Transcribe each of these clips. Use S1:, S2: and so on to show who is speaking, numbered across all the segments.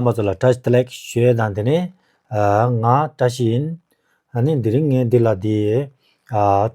S1: རྣམ་པ་ཚོ་ལ་བཀྲ་ཤི་ལེགས་ཞུའི་དང་དེ་ནས་ང་བཀྲ་ཤིས་ཡིན། ནི་འདི་རིང་ངས་འདི་ལ་དེ།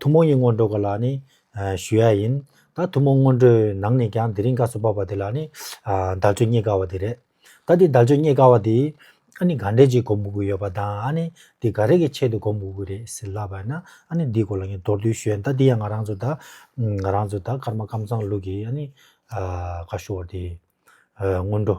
S1: ཐུན་མོང་གཉིས་སྔོན་འགྲོ་ག་ལ་ནི་ཞུ་ཡ་ཡིན། ད་ཐུན་མོང་སྔོན་འགྲོའི་ནང་ནས་ཀྱང་དེ་རིང་བཀའ་སུ་བབས་པ་དེ་ལ་ནི་བདག་ཆོས་རྙེད་དཀའ་བ་དེ་རེད། ད་དེ་བདག་ཆོས་རྙེད་དཀའ་བ་དེ། ནི་ག་འདྲས་ཅིག་གོ་འབུག་གི་ཡོད་པ་དང་ཨ་ནི་དེ་ག་རེ་གི་ཆེད་དུ་གོ་འབུག་གི་རེད་ཟེར་ལབ་པ་ན་ཨ་ནི་འདིའི་སྐོར་ལ་ངས་མདོར་བསྡུས་ཞུ་ཡ་ཡིན་ད་འདི་ཡང་ང་རང་ཚོ་ད། ང་རང་ཚོ་ད་ཀརྨ་ཀམ་ཚང་ལུགས་ཀྱི་ཨ་ནི། བཀའ་ཤུ་བ་དེ། སྔོན་འགྲོ།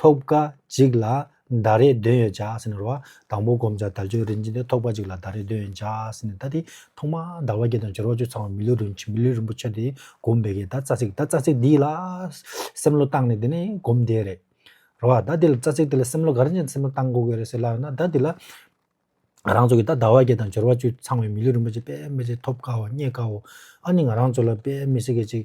S1: ཐོབ་སྐ་གཅིག་ལ་ཟླ་རེ་འདོན་ཡོད་བྱ་ཟེར་ནས་རོ། དང་པོ་བསྒོམ་བྱ་དལ་འབྱོར་རིན་ཆེན་དེ་ཐོབ་སྐ་གཅིག་ལ་ཟླ་རེ་འདོན་ཡོད་བྱ་ཟེར་ནས་ད་དེ་ཐོག་མ་ཟླ་བ་བརྒྱད་དང་སྦྱོར་བ་བཅུ་ཚང་བ་མི་ལུས་རིན་ཆེན་མི་ལུས་རིན་པོ་ཆེ་དེ་བསྒོམ་བས་ཀྱི་ད་རྩ་ཚིག་ད་རྩ་ཚིག་འདི་ལ་སེམས་བློ་བཏང་ནས་དེ་ནས་བསྒོམ་བསྡད་རེད། རོ། ད་དེ་ལ་རྩ་ཚིག་དེ་ལ་སེམས་བློ་ག་རེ་ཅན་སེམས་བློ་བཏང་དགོས་ཀྱི་རེད་ཟེར་སླ་བ་ན་ད་དེ་ལ་ང་རང་ཚོ་གི་ད་ཟླ་བ་བརྒྱད་དང་སྦྱོར་བ་བཅུ་ཚང་བའི་མི་ལུས་རིན་པོ་ཆེ་དཔེ་མི་སྲིད་ཐོབ་སྐའོ་རྙེད་སྐའོ་ཨ་ནི་ང་རང་ཚོ་ལ་དཔེ་མི་སྲིད་སྐད་ཅིག་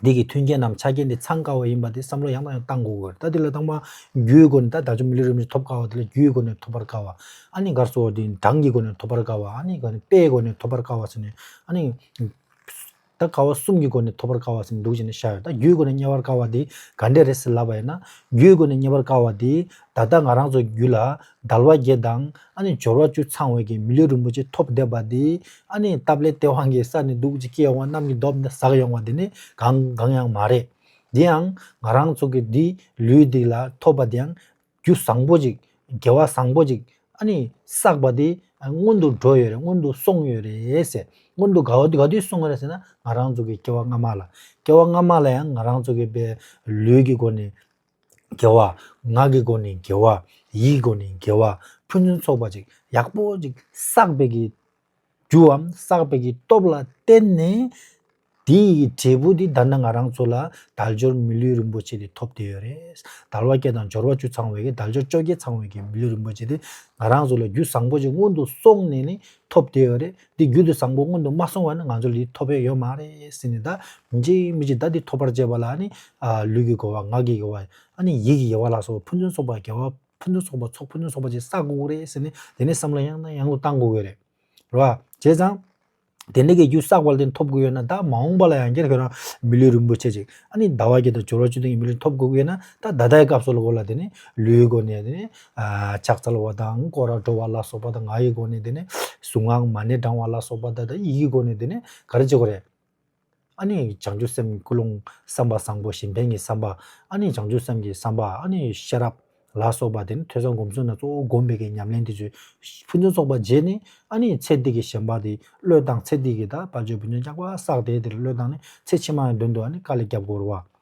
S1: འདི་གི་མཐུན་རྐྱེན་ནམ་ཆ་རྐྱེན་དེ་ཚང་དཀའ་བ་ཡིན་པ་དེ་བསམ་བློ་ཡང་དང་ཡང་གཏང་དགོས་དགོས་རེད་ད་འདི་ལ་དང་པ་རྒྱུའི་སྒོ་ནས་ད་ད་ཆ་མི་ལུས་རིམ་བཞིན་ཐོབ་དཀའ་བ་དེ་ལ་རྒྱུའི་སྒོ་ནས་ཐོབ་པར་དཀའ་བ། ཨ་ནི་གར་སོགས་དེ་གྲངས་ཀྱི་སྒོ་ནས་ཐོབ་པར་དཀའ་བ་ཨ་ནི་ག་ནི་དཔེའི་སྒོ་ནས་ཐོབ་པར་དཀའ་བ་ཟེར་ནས་ཨ་ནི། ད་ག་བ་གསུམ་གྱི་སྒོ་ནས་ཐོབ་པར་དཀའ་བ་ཟེར་ནས་འདུག་བྱས་ནས་བཞག་ཡོད་ད་རྒྱུའི་སྒོ་ནས་རྙེད་པར་དཀའ་བ་དེ་ག་འདྲས་རེད་ཟེར་ལབ་པ་ཡིན་ན། རྒྱུའི་སྒོ་ནས་རྙེད་པར་དཀའ་བ་དེ་ད་ལྟ་ང་རང་ཚོ་རྒྱུད་ལ་དལ་བ་བརྒྱད་དང་ཨ་ནི་སྦྱོར་བ་བཅུ་ཚང་བའི་གིས་མི་ལུས་རིན་པོ་ཆེ་ཐོབ་བསྡད་པ་འདི་ཨ་ནི་སྟབས་ལེགས་སྟེས་དབང་གིས་ས་ནི་སྡུག་ཅིག་སྐྱེས་འོང་གནམ་གྱི་རྡོབ་འདི་ཟགས་ཡོང་བ་འདི་ནི་གང་གང་ཡང་མ་རེད། དེ་ཡང་ང་རང་ཚོ་གི་འདི་ལུས་འདི་ལ་ཐོབ་པ་དེའང་རྒྱུ་བཟང་པོ་ཅིག་དགེ་བ་བཟང་པོ་ཅིག་ཨ་ནི་བསགས་པ་འདི་སྔོན་དུ་འགྲོ་ཡོད་རེད་སྔོན་དུ་སོང་ཡོད་རེད་ཟེར་སྔོན་དུ་ག་ག་དུས་སོང་རེད་ཟེར་ན་ང་རང་ཚོ་གི་སྐྱེ་བ་སྔ་མ་ལ་སྐྱེ་བ་སྔ་མ་ལ་ཡང་ང་རང་ཚོ་གི་པའི་ལུས་ཀྱི་སྒོ་ནས་དགེ་བ། ངག་གི་སྒོ་ནས་དགེ་བ། ཡིད་ཀྱི་སྒོ་ནས་དགེ་བ། ཕུན་ཚུན་ཚོགས་པ་ཅིག་ཡག་པོ་ཅིག་བསགས་པའི་གྱི། རྒྱུའམ་བསགས་པའི་གྱི་སྟོབས་ལ་བརྟེན་ནས། དེ་ཡི་འབྲས་བུ་དེ་ད་ནི་ང་རང་ཚོ་ལ་དལ་འབྱོར་མི་ལུས་རིན་པོ་ཆེ་དེ་ཐོབ་བསྡད་ཡོད་རེད། དལ་བ་བརྒྱད་དང་འབྱོར་བ་བཅུ་ཚང་བའི་གྱི་དལ་འབྱོར་བཅོ་བརྒྱད་ཚང་བའི་གྱི་མི་ལུས་རིན་པོ་ཆེ་དེ། ང་རང་ཚོ་ལ་རྒྱུ་བཟང་པོ་ཅིག་སྔོན་དུ་སོང་ནས་ནི་ཐོབ་བསྡད་ཡོད་རེད། འདི་རྒྱུན་དུ་བཟང་པོ་སྔོན་དུ་མ་སོང་བ་ནི་ང་ཚོར་འདི་ཐོབ་དཔེ་ཡོད་མ་རེད་ཟེར་ནས་ད་མི་འཇིགས་མི་འཇིགས་ད་འདི་ཐོབ་པར་བྱེད་པ་ལ་ནི་ལུས་ཀྱི་དགོས་པ་ངག་གི་དགོས་པ་ཨ་ནི་ཡིད་ཀྱི་དགེ་བ་ལ་སོགས་ཕུན་སུན་སོགས་པ་དགེ་བ་ཕུན་སུན་སོགས་པ་ཚོགས་ཕུན་སུན་སོགས་པ་ཅིག་བསག་དགོས་དགོས་རེད་ཟེར་ནས་དེ་ནས་བསམ་བློ་ཡང་དང་ཡང་དུ་གཏང་དགོས་རེད། རེད་བ། བྱས་ཙང། དེ་འདྲ་གི་རྒྱུ་བསགས་པ་ལ་བརྟེན་ཐོབ་དགོས་ཡོད་ན་ད་མ་འོངས་པ་ལ་ཡང་སྐྱར་ཁྱོད་རང་མི་ལུས་རིན་པོ་ཆེ་ཅིག་ཨ་ནི་ཟླ་བ་བརྒྱད་དང་སྦྱོར་བ་བཅུ་བདུན་གྱི་མི་ལུས་ཐོབ་དགོས་ཀྱི་ཡོད་ན་ད་ད་ལྟའི་སྐབས་སུ་ལ་གོ་ལ་དེ་ནི་ལུས་ཀྱི་སྒོ་ནས་དེ་ནི་ལྕགས་ཚལ་བ་དང་སྐོར་བྲོ་བ་ལ་སོགས་པ་དང་ང་ཡི་སྒོ་ནས་དེ་ནས་གཟུངས་སྔགས་མ་ཎི་བགྲང་བ་ལ་སོགས་པ་དང་དེ་ཡི་སྒོ་ནས་དེ་ནས་ག་རེ་བྱེད་དགོས་རེད། ཨཱ་ནི་བྱང་ཆུབ་སེམས་ཀྱི་ཀུན་སློང་བསམ་པ་བཟང་པོ་གཞན་ཕན་གྱི་བསམ་པ་ཨཱ་ནི་བྱང་ཆུབ་སེམས་ཀྱི་བསམ་པ་ཨཱ་ནི་ཤེས་རབ་ལ་སོགས་པ་དེ་ནི་ཐོས་བསམ་སྒོམ་གསུམ་ན་གཙོ་བོ་བསྒོམ་པའི་གྱི་ཉམས་ལེན་དེ་བརྗོད། ཕུན་ཚོགས་ཚོགས་པ་རྗེས་ནི་ཨཱ་ནི་ཚེ་འདི་གི་ཞེན་པ་དེ་བློས་བཏང་ཚེ་འདི་གི་དད་པ་ཆོས་བུ་ཉོན་ཅག་པ་བསགས་དེ་དེར་བློས་བཏང་ནས་ཚེ་ཕྱི་མ་ཡང་དོན་དུ་ཨཱ་ནི་བཀའ་ལས་སྐྱབས་དགོས་རུང་བ།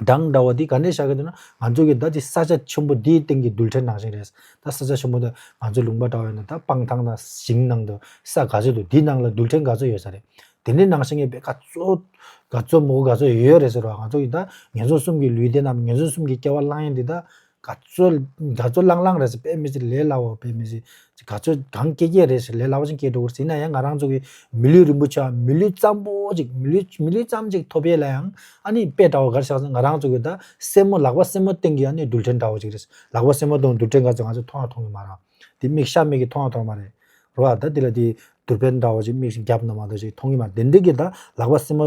S1: སྦྲང་འདྲ་བ་འདི་ག་ནས་བཞག་གི་འདུག་ན་ང་ཚོ་གི་ད་ཅི་ས་ཆ་ཆེན་པོ་འདིའི་སྟེང་གི་རྡུལ་ཕྲན་ནང་བཞིན་རེད། ད་ས་ཆ་ཆེན་པོ་འདི་ང་ཚོའི་ལུང་པ་འདྲ་བ་ཡིན་ན་ད་སྤང་ཐང་དང་ཞིང་ནང་དུ་ས་ག་ཚོད་འདུག་འདི་ནང་ལ་རྡུལ་ཕྲན་ག་ཚོད་ཡོད་ས་རེད། དེ་འདྲའི་ནང་བཞིན་གྱི་བེ་ག་ཚོད་ག་ཚོད་མོ་ག་ཚོད་ཡོད་རེད་ཟེར་བ་ང་ཚོ་གི་ད་ངན་སོང་གསུམ་གྱི་ལུས་དེ་རྣམས་ངན་སོང་གསུམ་གྱི་སྐྱེ་བ་བླངས་ཡས་འདི་ད་ག་ཚོད་འདྲ་ཚོད་བླང་བླང་རེད་ཟེར་དཔེ་མི་ཟེར་ལས་སླ་བ་དཔེ་མི་ཟེར། ག་ཚོད་གང་སྐྱེལ་སྐྱེལ་རེད་ཟེར་ལས་སླ་བ་ཞིག་སྐྱེལ་འགྲོ་གི་ཟེར་ན་ཡང་ང་རང་ཚོ་གི་མི་ལུས་རིན་པོ་ཆེ་བ་མི་ལུས་གཙང་པོ་ཅིག་མི་ལུས་མི་ལུས་ཙམ་ཅིག་ཐོབ་ཡས་ལ་ཡང་ཨ་ནི་དཔེ་འདྲ་བ་འགར་བཞག་ཚེ་ང་རང་ཚོ་གི་ད་སེན་མོ་ལག་པ་སེན་མོ་སྟེང་གི་ཨ་ནི་རྡུལ་ཕྲན་འདྲ་བ་ཅིག་རེད་ལག་པ་སེན་མོ་སྟེང་རྡུལ་ཕྲན་འགའ་ཚོ་ང་ཚོ་མཐོང་ཡང་མཐོང་གི་མ་རང་དེ་མིག་ཤ་མིག་གིས་མཐོང་ཡང་མཐོང་གི་མ་རེད་རོ་ཨ་ད་དེ་ལ་དེ་རྡུལ་ཕྲན་འདྲ་བ་ཅིག་མིག་ཤིག་བརྒྱབ་ན་མ་གཏོགས་ཅིག་མཐོང་གི་མ་རེད་དེ་འདྲ་གི་ད་ལག་པ་སེན་མོ་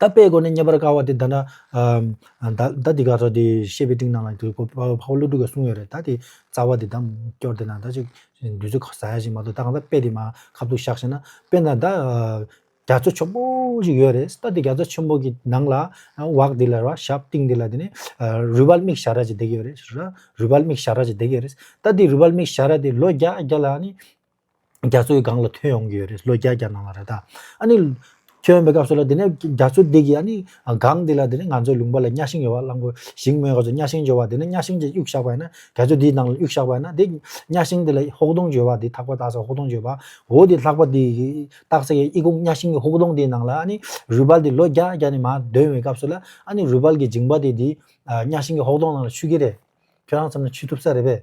S1: ད་དཔེའི་སྒོ་ནས་རྙེད་པར་དཀའ་བ་དེ་ད་ན། ད་འདི་ག་སོགས་དེ་བཤད་པའི་སྟེང་ན་ལ་དེ་ཕ་བོ་བློ་གྲོས་ཀྱིས་གསུངས་ཡོད་རེད་ད་དེ། རྩ་བ་དེ་དང་སྐྱོར་དེ་ན་ད་ཅིག་དུས་ཚོད་ཁ་ཟ་ཡ་ཞིག་མ་གཏོགས་ད་གང་ཟག་དཔེ་དེ་མ་ཁ་ཐུག་བཞག་བྱས་ན་དཔེ་ན་ད། རྒྱ་མཚོ་ཆེན་པོ་ཞིག་ཡོད་རེད་ད་དེ་རྒྱ་མཚོ་ཆེན་པོ་གི་ནང་ལ། འོག་དེ་ལ་ར་ཞབས་སྟེང་དེ་ལ་དེ་ནས་རུས་སྦལ་མིག་བྱ་ར་ཅིག་བསྡད་ཀྱི་ཡོད་རེད་ར་རུས་སྦལ་མིག་བྱ་ར་ཅིག་བསྡད་ཀྱི་ཡོད་རེད་ད་དེ་རུས་སྦལ་མིག་བྱ་ར་དེ་ལོ་བརྒྱ་བརྒྱ་ལ་ནི། རྒྱ་མཚོའི་སྒང་ལ་ཐོན་ཡོང་གི་ཡོད་རེད་ལོ་བརྒྱ་བརྒྱ་གནང་བ་རེད་ད། ཨ་ནི། ཐོན་ཡོང་པའི་སྐབས་སུ་ལ་དེ་ནས་རྒྱ་མཚོ་འདི་གི་ཨ་ནི། སྒང་འདི་ལ་དེ་ནས་ང་ཚོའི་ལུང་པ་ལ་གཉའ་ཤིང་ཡོད་པ་གླང་པོ་ཞིང་སྨོན་ག་ཚོད་གཉའ་ཤིང་འཇོ་བ་དེ་ནས་གཉའ་ཤིང་གཅིག་གཡུག་བཞག་པ་ཡིན་ན་རྒྱ་མཚོ་འདིའི་ནང་ལ་གཡུག་བཞག་པ་ཡིན་ན་དེ། གཉའ་ཤིང་དེ་ལ་ཧོག་དོང་འཇོ་བ་དེ་ཐག་པ་བཏགས་ས་ཧོག་དོང་འཇོ་བ། འོ་དེ་ལྷག་པ་དེའི་བཏགས་ས་ཡི་ཨི་ཁུང་གཉའ་ཤིང་གི་ཧོག་དོང་དེའི་ནང་ལ་ཨ་ནི། རུས་སྦལ་དེ་ལོ་བརྒྱ་བརྒྱ་ནས་མ་འདོན་བའི་སྐབས་སུ་ལ་ཨ་ནི་རུས་སྦལ་གྱི་འཇིང་པ་དེ་དེའི། གཉའ་ཤིང་གི་ཧོག་དོང་ནང་ལ་ཆུད་ཀྱི་རེད། ཁྱོད་རང་བསམ་ན་ཆུད་ཐུབ་ས་རེད་པས།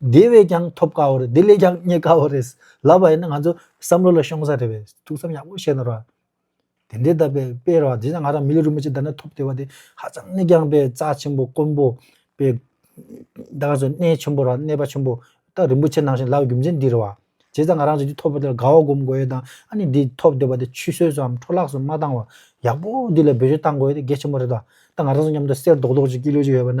S1: དེ་བས་ཀྱང་ཐོབ་དཀའ་བོ་རེད་དེ་ལས་ཀྱང་རྙེད་དཀའ་བོ་རེད་ལབ་པ་ཡིན་ན་ང་ཚོ་བསམ་བློ་ལ་ཤོང་ས་རེད་བས་ཐུགས་བསམ་ཡག་པོ་བཞེས་ནོར་བ། དེ་འདྲའི་ལྟ་བས་དཔེ་ར་བ་དེ་ཡང་ང་རང་མི་ལུས་རིན་པོ་ཆེ་ལྟར་ན་ཐོབ་བདེ་བ་དེ་ཧ་ཅང་ནས་ཀྱང་བས་རྩ་ཆེན་པོ་དཀོན་པོ་བས། ད་ག་ཟེ་གནས་ཆེན་པོ་ར་གནས་པ་ཆེན་པོ་ད་རིན་པོ་ཆེ་ནང་བཞིན་ལབ་རྒྱུ་མཚན་འདི་རེད་བ། བྱས་ཙང་ང་རང་བཞིན་གྱི་ཐོབ་བ་དེ་ལ་དགའ་བ་སྒོམ་དགོས་ཡོད་དང་ཨ་ནི་འདི་ཐོབ་བདེ་བ་དེ་ཆུད་ཟོས་སུའམ་འཕྲོ་བརླགས་སུ་མ་བཏང་བར་ཡག་པོ་འདི་ལ་འབད་བརྗོད་བཏང་དགོས་ཡོད་དེ་གལ་ཆེན་པོ་རེད་བ། ད་ང་རང་ཚོ་མཉམ་དུ་གསེར་རྡོག་རྡོག་གཅིག་སྐྱིད་ལོད་ཀྱི་ཡོད་པ་ན་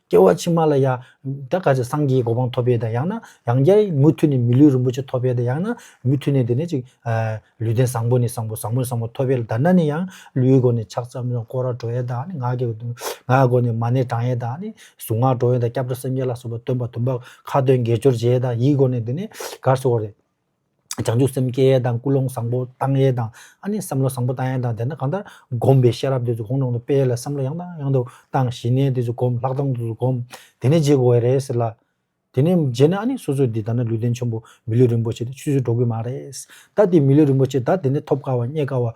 S1: སྐྱེ་བ་ཕྱི་མ་ལ་ཡང། ད་ག་ཅིག་སངས་རྒྱས་ཀྱི་གོ་འཕང་ཐོབ་པའི་དང་ཡང་ན། ཡང་བསྐྱར་མུ་མཐུད་ནས་མི་ལུས་རིན་པོ་ཆེ་ཐོབ་པའི་དང་ཡང་ན། མུ་མཐུད་ནས་དེ་ནས་ཅིག། ལུས་རྟེན་བཟང་པོ་ནས་བཟང་པོ་བཟང་པོ་ནས་བཟང་པོ་ཐོབ་པའི་ལ་དར་ན་ནི་ཡང། ལུས་སྒོ་ནས་ཕྱག་མཚམས་དང་ཀོ་ར་བྲོ་ཡས་དང་ནི་ངག་གི། ངག་སྒོ་ནས་མ་ཎི་བགྲང་ཡས་དང་ནི། གཟུངས་སྔགས་བྲོ་ཡས་དང་སྐྱབས་འགྲོ་སེམས་བསྐྱེད་ལ་སོགས་པ་སྟོན་པ་དུམ་པ། ཁ་ཏོན་དགེ་སྦྱོར་བྱེད་ཡས་དང་ཡིད་སྒོ་ནས་དེ་ནས། གར་སོགས་རེ། བྱང་ཆུབ་སེམས་སྐྱེ་ཡས་དང་ཀུན་སློང་བཟང་པོ་བཏང་ཡས་དང་ཨ་ནི་བསམ་བློ་བཟང་པོ་བཏང་ཡས་དང་དེ་ནས་གང་ལྟར་བསྒོམས་པའི་ཤེས་རབ་དེ་ཚོ་གོང་དྲུང་དུ་སྤེལ་ལ་བསམ་བློ་ཡང་དང་ཡང་དུ་བཏང་ཞི་གནས་དེ་ཚོ་བསྒོམས་ལྷག་མཐོང་དེ་ཚོ་བསྒོམས་དེ་ནས་རྗེས་དགོངས་བས་རེད་ཟེར་ལ། དེ་ནས་རྗེས་ནས་ཨ་ནི་སོ་སོས་འདི་ལྟར་ན་ལུས་རྟེན་ཆེན་པོ་མི་ལུས་རིན་པོ་ཆེ་འདི་ཆུད་ཟོས་འགྲོ་གི་མ་རེད། ད་འདི་མི་ལུས་རིན་པོ་ཆེ་ད་འདི་ནས་ཐོབ་དཀའ་བ་རྙེད་དཀའ་བ།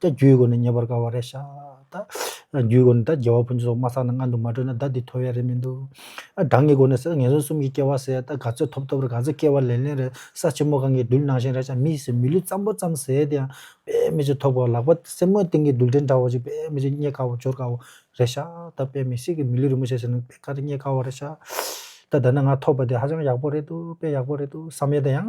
S1: ད་རྒྱུའི་སྒོ་ནས་ཉེ་བར་དགའ་བ་རེ་བཞག་ད། རྒྱུའི་སྒོ་ནས་ད་རྒྱལ་བ་ཕུན་ཚོགས་མ་བསགས་ན་མངལ་དུ་མ་བྲོས་ན་བདག་འདི་ཐོ་ཡ་རེ་མི་འདུག། གྲངས་ཀྱི་སྒོ་ནས་ཟེར་ན་ངན་སོང་གསུམ་གྱི་སྐྱེ་བ་ཟད་ད་ག་ཚོད་ཐོབ་ཐོབ་རེ་ག་ཚོད་སྐྱེ་བ་ལེན་ལེན་རེ་ས་ཆེན་མོ་གང་གི་རྡུལ་ནང་བཞིན་རེ་ཆ་མིས་ཟེར་མི་ལུས་ཙམ་པོ་ཙམ་ཟད་དེ་ཡང་དཔེ་མི་ཆེ་ཐོག་པའོ་ལག་པ་སེན་མོའི་སྟེང་གི་རྡུལ་ཕྲན་འདྲ་བོ་ཅིག་དཔེ་མི་ཆེ་རྙེད་དཀའ་བོ་འབྱོར་དཀའ་བོ་རེ་བཞག་ད་དཔེ་མི་སྲིད་གི་མི་ལུས་རིན་པོ་ཆེ་ཟེར་ན་དཔེ་ག་རེ་རྙེད་དཀའ་བ་རེ་བཞག་ད་ད་ནི་ང་ཐོབ་པ་དེ་ཧ་ཅང་ཡག་པོ་རེད་འདུག་དཔེ་ཡག་པོ་རེད་འདུག་བསམ་ཡས་ད་ཡང་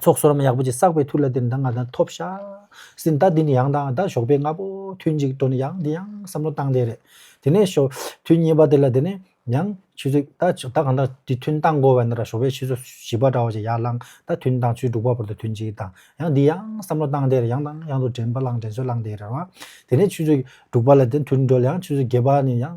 S1: ཚོགས་གསོར་མ་ཡག་པོ་ཅིག་བསགས་པའི་མཐུ་ལ་འདིར་འདང་ང་དང་ཐོབ་ཤ་ཟིན་ད་འདི་ནི་ཡང་དང་ད་ཞོགས་པའི་རྔ་པོ་ཐུན་གཅིག་འགྲོ་ནས་ཡང་འདི་ཡང་བསམ་བློ་བཏང་བསྡད་རེད་དེ་ནས་ཞོ་ཐུན་གཉིས་པ་དེ་ལ་དེ་ནས་ཡང་ཆུ་ཚོད་ད་ཆུ་ད་གང་ད་འདི་ཐུན་བཏང་གོ་བས་ན་ར་ཞོགས་པའི་ཆུ་ཚོད་བཞི་པ་འདྲ་བ་ཅིག་ཡར་བླངས་ད་ཐུན་དང་ཆུ་དྲུག་པ་བར་དུ་ཐུན་གཅིག་དང་ཡང་འདི་ཡང་བསམ་བློ་བཏང་བསྡད་རེད་ཡང་དང་ཡང་དུ་དྲན་པ་བླངས་དྲན་གསོ་བླངས་བསྡད་རེད་བ་དེ་ནས་ཆུ་ཚོད་དྲུག་པ་ལ་དེ་ཐུན་འགྲོ་ལ་ཡང་ཆུ་ཚོད་བརྒྱད་པ་ནས་ཡང་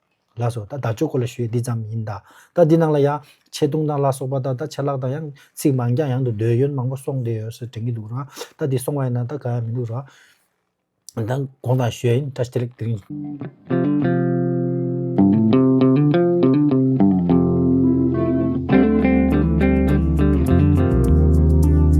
S1: ལགས་སོ། ད་བདག་ཅོ་ཀོ་ལ་ཞུས་འདི་ཙམ་ཡིན་ད། ད་འདི་ནང་ལ་ཡང། ཆེ་བརྡུང་དང་ལ་སོགས་པ་དང་ད་ཆད་ལག་དང་ཡང། ཚིག་མང་རྐྱང་ཡང་དུ་འདོད་ཡོན་མང་པོ་སོང་བསྡད་ཡོད་ཟེར་དྲན་གྱི་འདུག་རང། ད་འདི་སོང་བ་ཡིན་ན་ད་གང་ཡང་མི་འདུག་རང། ད་དགོངས་དང་ཞུས་ཡིན་ད་སྟེ་ལེགས་འདི་རིང།